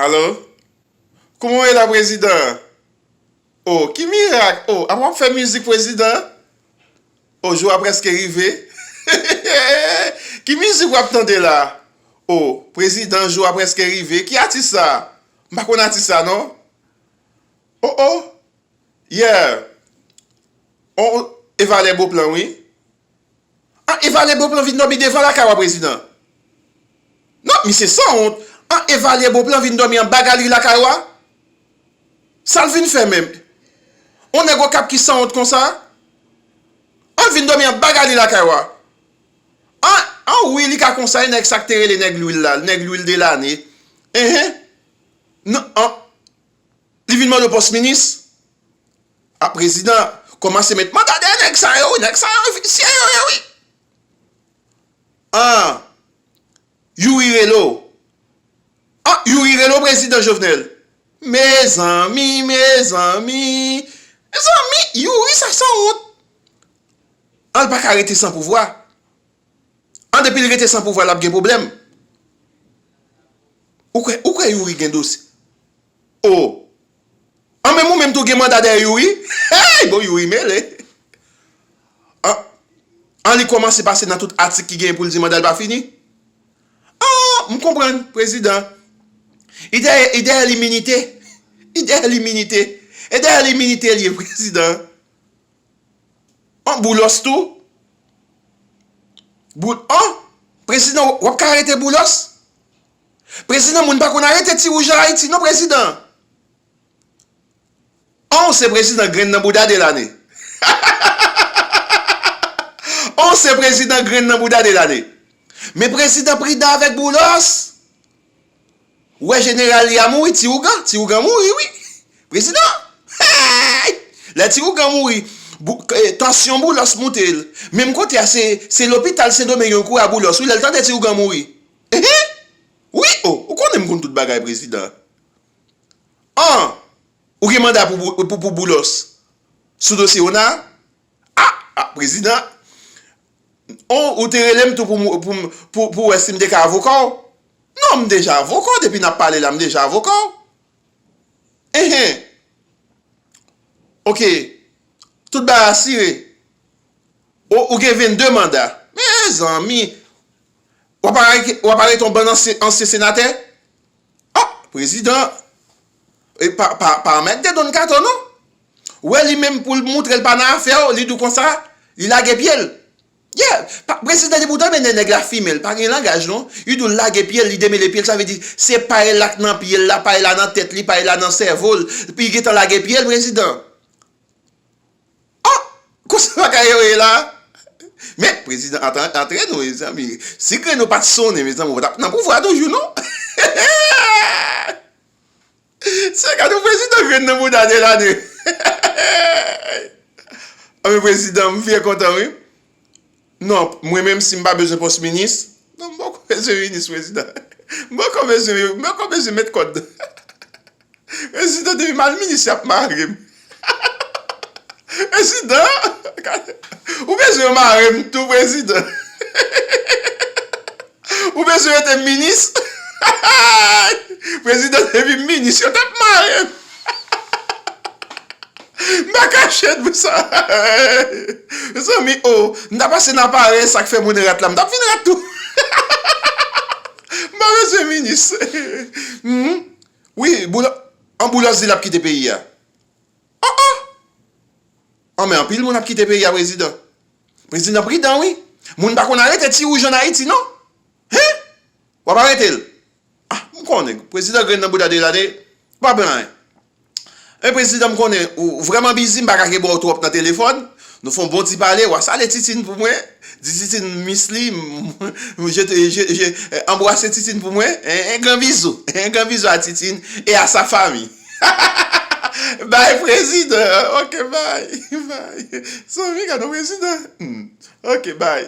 Allo? Kouman w ye la prezidan? O, ki mirak! O, a w ap fè mizik prezidan? O, jou a prèske rive. Ki mizik w ap tande la? O, prezidan jou a prèske rive. Ki atis sa? M pa konn atis sa non. O, o, yeah! On, e valè Beauplan wi. An evalye bon plan vin domi devan lakay ou a prezidan. Non, misye san wont. An evalye bon plan vin domi anba galri lakay ou a. Sal vin fè menm? On nèg okap ki san wont konsa? An l vin domi anba galri lakay ou a. An, an wi li ka konsa e nèg sa k te rele nèg lwil la, nèg lwil de lane. Enhen. Non, an. Li vin mande w pòs minis? A prezidan kòmanse met man gade nèg sa yo wi, nèg sa yo visye yo ye wi. An Youri rele w, an Youri rele w prezidan Jovenel. Mezanmi, mezanmi, mezanmi Youri sa sanwont. An l pa ka rete san pouvwa. An depi li rete san pouvwa lap gen problème. Ou kwè ou kwè youri gen dosye oh an menm ou menm tou gen manda dèyè youri hey bon youri mele an an li kòmanse pase nan tout atik ki gen pou l di mandal pa fini an m konprann prezidan li dèyè li dèyè liminite li dèyè liminite e dèyè liminite l ye prezidan. an boulos tou boul an prezidan wap ka arete boulos prezidan moun pa konn arete ti wouj an ayiti non prezidan an ou se prezidan grenn nan bouda de lane hahahahahahaha an ou se prezidan grenn nan bouda de lane men prezidan pridan avèk boulos. Ou wè jeneral li a mouri ti ougan ti ougan mouri wi prezidan heyy lè ti ougan mouri tansyon boulos moute l menm kote a se lopital sendomeng yo kouri a boulos wi lè l tande ti ougan mouri ehe wi o ou konnen m konn tout bagay prezidan an ou gen manda pou boulos sou dosye ona. Ah ah prezidan oh ou te relem tou pou wè sim te ka avoka w non m deja avoka w depi nap pale la m deja avoka w enhen ok tout bagay asire oh ou gen 22 manda mezanmi wap arete yon bann ansyen senatè ah prezidan pa mèt de don kato non Ou wè li menm poul moutrel pa nan afèw li dou konsa li lage pyel yeah prezidan depi ou tande nen nèg la fimel pa gen langaj non li dou lage pyel li demele pyel sa vle di se pay la k nan pyel la pay la nan tèt li pay la nan sèvol li gentan lage pyel prezidan ah konsa bagay yo ye la men prezidan antre nou mezanmi si grenn ou pat sonnen mezanmi ou patap nan pouvwa toujou non heheehh. Sè gad yon prezidan grenn nan bouda Delane Anmwey prezidan m vye kontan wi Non mwen menm si m pa bezwen pòs minis non m poko bezwen minis prezidan M poko bezwen yo m poko bezwen met kòd Prezidan depi m al minis y ap mare m Prezidan ou bezwen yo marem tou prezidan ou bezwen yo te minis prezidan te vin minis yo tap marem m pa kache nou sa mezanmi oo m ta pase nan aparèy sak fè moun rat la m tap vin rat tou m pa bezwen minis wi boulòs. Anboulans di lap kite peyi a. Oh oh! An men anpil moun ap kite peyi a prezidan. Prezidan pridan wi. Moun pa konn arete ti wouj an Ayiti non. Hein! Wap arete l? Ah m konnen prezidan grenn nan bouda Delaunay pa blan hein. Men prezidan m konnen ou vrèman bizi m pa ka ke ba w twòp nan telefòn. Nou fon bon ti pale wa sale titine pou mwen di titine m miss li anbwase titine pou mwen en gran bizou en gran bizou a titine e a sa fami hahahaha bay prezidan ok bay bay zanmi gadon prezidan ok bay.